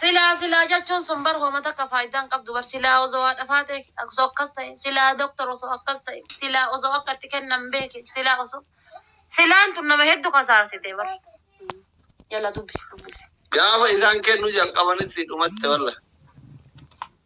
Silaa silaa jechuun sun bar homa takka faaydaa hin qabdu bar silaa osoo haadha faatee osoo akkas ta'e silaa doctor osoo akkas ta'e silaa osoo akka itti kennan beeke silaa osoo silaan tun nama heddu kasaarsite bar yala dubbisi dubbisi. Gaafa isaan kennu jalqabanitti dhumatte wallah.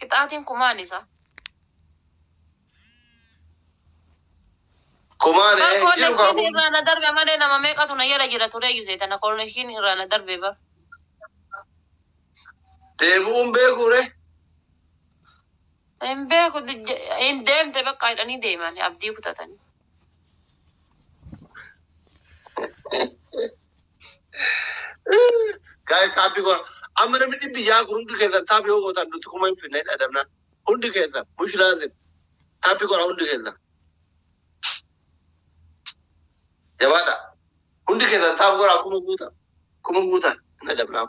Qixaatiin kumaan isa. Kumaan Bar jiru kaa koonnekshiin kun. irraa na darbe malee nama meeqatu na jala jira tureeyyu seetana koonnekshiin irraa na darbe bar. Deebi'uun beekuu ree? Hin beeku j- hin deemte bakka jedhanii deeman abdii kutatanii. Gaa'e kaabbii koo amma namni dhibbi yaa kun hundi keessan taaphi yoo gootan nuti kuma hin finne dhadhabna. Hundi keessan mush laazim taaphi godha hundi keessan. Jabaadha. Hundi keessan taaphi godha kuma guuta. Kuma guuta hin dhadhabnaaf.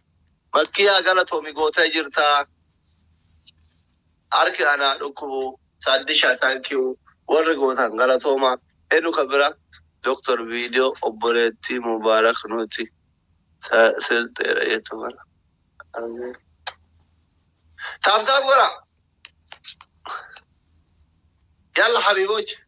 Makkiyaa galatomi gota jirta harki anaa dhukkubu saddisha thank you warri gotan galatoma enu ka bira Doktar video obboleetti mubarak nuti ta silxeedha jettu kana argee taap taap godha yalla habiboch.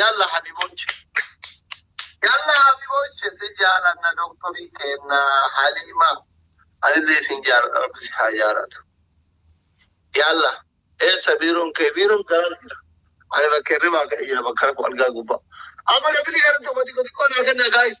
Yalla habiboche. Yalla habiboche si jaalanna doktorii keenna Haliima. Anillee isin jaaladha rabbi si haa jaalatu. Yalla. Eessa biiroon kee? Biiroon garaa jira. Ani bakka hirribaa ka'e jira bakka rakkoo algaa gubbaa. Amma namni gara tokko xiqqoo xiqqoo naa kenna gaayis.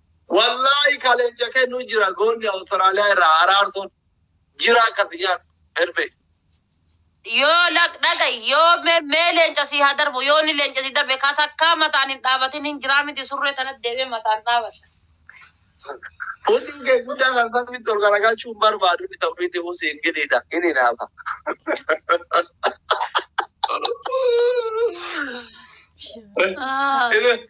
Wallaahi ka leenca kennu jira goonni Awustiraaliyaa irraa araarsoon jira akka si nyaatu Erbee. Yoo lak dhagayi yoo me mee leenca sii haa darbu yoo ni leenca si darbe ka takkaa mataan hin dhaabatin hin jiraa miti surree tanat deemee mataan dhaabadha. Hunduu kee guddaa kan samitti ol garagalchuu hin barbaadu inni ta'u miti usi hin gidhiidha hin hinaafa. Ah. Inni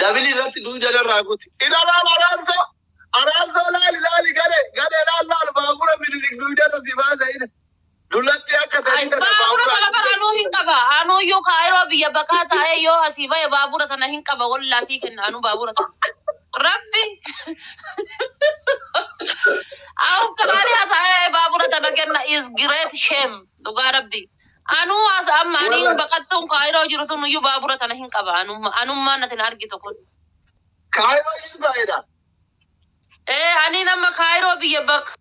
Dabili irratti duu jala irraa kuti. Ilalaan araarsoo. Araarsoo laali laali gale. Gale laal laal baabura minilik duu jala si baasa ina. Dulatti akka Ay, sadii kana baabura baabura. kana bara anuu hin qaba. Anuu iyyuu kaayiroo biyya baqaa taa'ee yoo asii ba'e baabura tana hin qaba. Wallaa sii kenna anuu baabura tana. Rabbi. Awustiraaliyaa taa'ee baabura tana kenna is great shame. Dhugaa rabbi. Anuu as amma ani Warra- baqattuun kaayiroo jiru tun iyyuu baabura tana hin qaba anumma anummaan ati na argitu kun. Kaayiroo iyyuu baay'eedha. Ee ani nama kaayiroo biyya bakka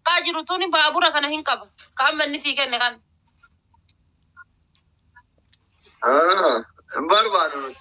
kaa jiru tun baabura kana hin qaba. Ka amma inni sii kenne kan. Ah, Hin barbaadu nuti.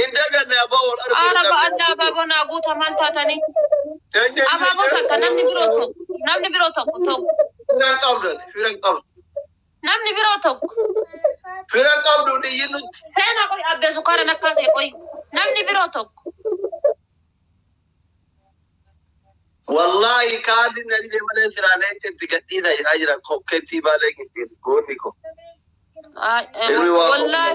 Hin daganne abbaa wal arguu Qaara dadhabne ba'adda abbaa abaaboo naa guuta maal taatanii? Eenyuun Abaaboo jettee takka namni biroo tokko namni biroo tokko tokko fira hin qabdu ati fira hin qabdu. namni biroo tokko Fira hin qabdu hin iyyin nutti. seena qoy abbee sukkaara nakkaasee qoy namni biroo tokko Wallaahi kaalli na dhibee malee firaa leenca itti gadhiisaa jedhaa jira kokkettii baalee gittiin goonni koo. Ay, eh, Ilmi waa wallaahi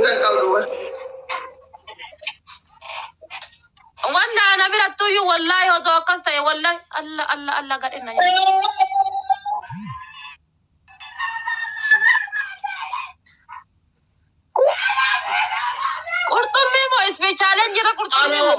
Miran qabdu bar. Wanda ana birattuyyuu wallahi otoo akkas ta'e wallahi alla alla alla gadhe na nyaate. Qurxummii moo ispeechaaleen jira qurxummii moo?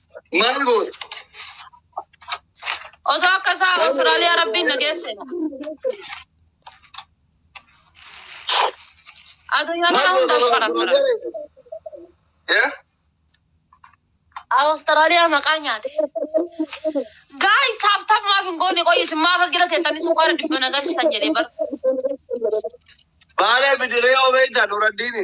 Maal goota? Osoo akka isaa Awustiraaliyaa rabbiin na geesse. Addunyaa kana hunda farafara. Eh? Awustiraaliyaa maqaa nyaate. Gaayis taaftaaf maaf hin goone qoyi isin maaf as jala teettanii sukkaara dhibba na galchitan jedhee bara. Baala bidiree yoo beektan horaddiini.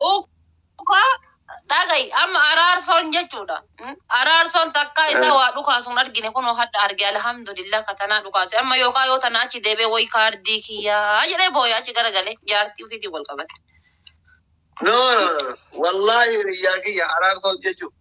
Dhuka dhagayi amma araarsoon jechuudha. Mm, Araarsoon takkaa isaa waa dhukaasuun argine kunoo hadha arge alhamdulillah ka tanaa dhukaase amma yookaan yoo tanaa achi deebee wayi kaardii kiyyaa jedhee booya achi garagalee jaartii ofiitiin wal qabate. No, no, no. Wallaahi hiriyaa kiyya araarsoon jechuun.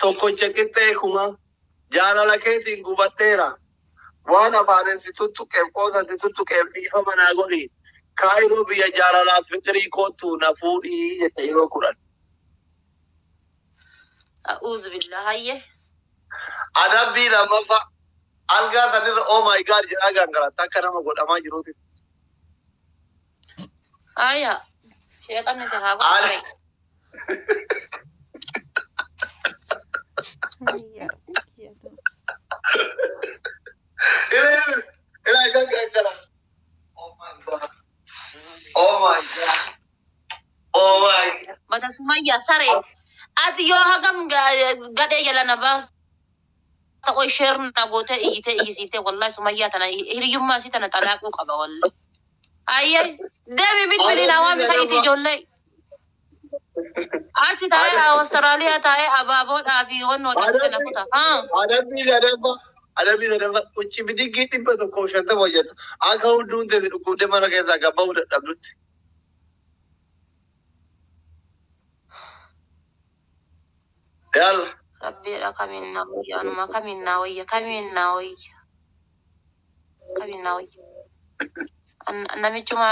Tokkocha qixxee kumaa. Jaalala keetiin gubadheera. Waan afaanin si tuttuqeef qoosan si tuttuqeef dhiifama naa godhi. Kaayiroo biyya jaalalaaf fiqirii koottu na fuudhi jette yeroo kudhan. A'uuzubillah hayye. Adabbii lammaffaa. Algaa sanirra oh my God jedhaa gangalatta akka nama godhamaa jiruutitti. Aya. Shee qabne si haa godhu. Ani- Ira ira ira ira ira. Oh my god. Oh my god. Oh my god. Bata Sumayya sare. Ati yoo hagam ga- gadhee jala na baas. Ta'oo sheer na gootee iyyitee iyyisiiftee wallahi Sumayyaa tana hiriyummaa isii tana xalaaquu qaba wallahi. Ayyee deemi bilbili naa waami fa'iiti ijoollee. Achi taa'ee Awustiraaliyaa taa'ee abaaboodhaa fi honnoo dhaqxe na kuta. Haa. Adabbii sadaffa adabbii sadaffa qucci bidiggii dhibba tokkoof shantama hojjetta akka hudduun teessi dhukkubdee mana keessaa gad ba'uu dadhabdutti. Dal. Rabbii jedhaa kamiin naa wayya anumaa kamiin naa wayya kamiin naa wayya kamiin naa wayya An namichuma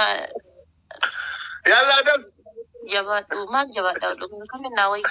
Yallaa dal. jabaadhu maal jabaadha dhugaa kamiin naa wayya.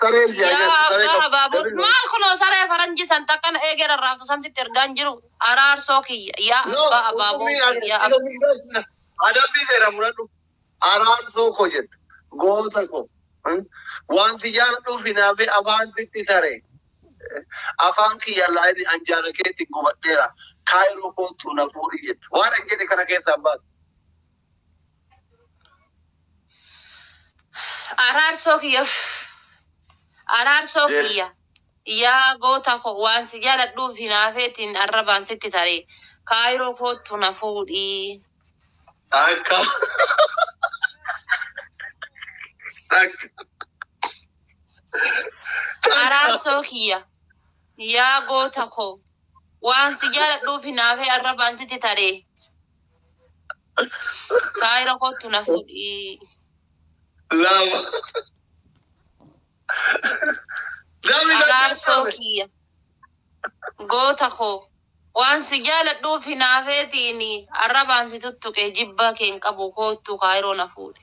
Saree yaa yaa abbaa saree qabu. habaaboo David maal kunoo saree faranjii san takkan eegee rarraaftu san sitti ergaan jiru araarsoo kiyya yaa No, abbaa habaaboo qurxummii ani yaa isa miidhagsina. Adabbii seera muradhu. Araarsoo koo jedhu. Goota koo. Hmm? Waan si jaaladhuuf hinaafee afaan sitti tare. Afaan kiyya laayini an jaala keetti gubadheera. Kaayiroo koottu na fuudhi jettu. Waan an jedhe kana keessaa baatu. Araarsoo kiyya araarsoo Jee. kiyya yaa goota koo waan si jaaladhuuf hinaafeetiin arrabaan sitti taree kaayiroo koottu na fuudhii. Akka. Akka. Araarsoo kiyya yaa goota koo waan si jaaladhuuf hinaafee arrabaan sitti taree Kaayira kottu na fuudhii. Lama. Dami na Araarsoo keessame. kiyya. Goota koo. Waan si jaaladhuuf hinaafeetiin arrabaan si tuttuqe jibbaa kee hin qabu koottu kaayiroo na fuudhi.